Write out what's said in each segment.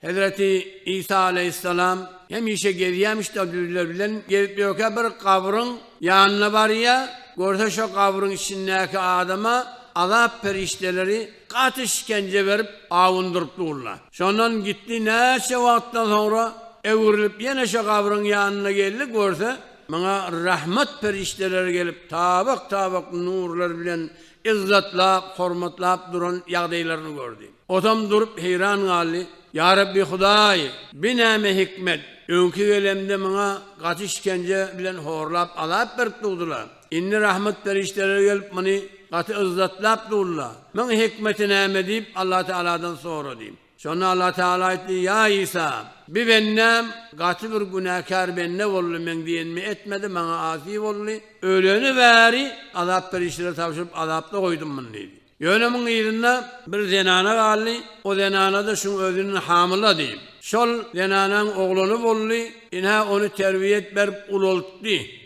Hezreti Isa aleýhissalam hemişe gezýämiş-de düzler bilen gezip ýörkä bir gabryň ýanyna barýar, görse şo gabryň içindäki adama azap perişdeleri gaty işkenje berip awundyryp durlar. Şondan gitdi näçe wagtdan soňra öwrülip ýene şo gabryň ýanyna geldi, görse muňa rahmat perişdeleri gelip tabak-tabak nurlar bilen yzzatlap, hormatlap duran ýagdaýlaryny gördi. Otam durup heýran galdy, Ýa Rabbi Hudaý, bi näme hikmet? Öňki gelemde maňa gaty işkence bilen horlap azap berip durdylar. Indi rahmet perişdeleri gelip muny gaty yzzatlap durla. Muň hikmeti näme? diýip Allatagaladan sorady. Şonda Allah Tagala aýtdy, Ýa Isa! Bi bendäm gaty bir günäkär bende boldy, meň diýenimi etmedi, maňa asi boldy. Öleni bäri azap berişlere tabşyryp, azapda goýdum muny diýdi. Ýöne muň yzynda bir zenana galdy, o zenana-da şuň özüniň hamyla diýip, şol zenanaň oglany boldy, ine, ony terbiýe et berip ulaltdy.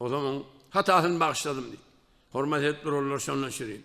Ozal oň hatasyny bagyşladym diý. Hormat edip durarlar şondan şirin.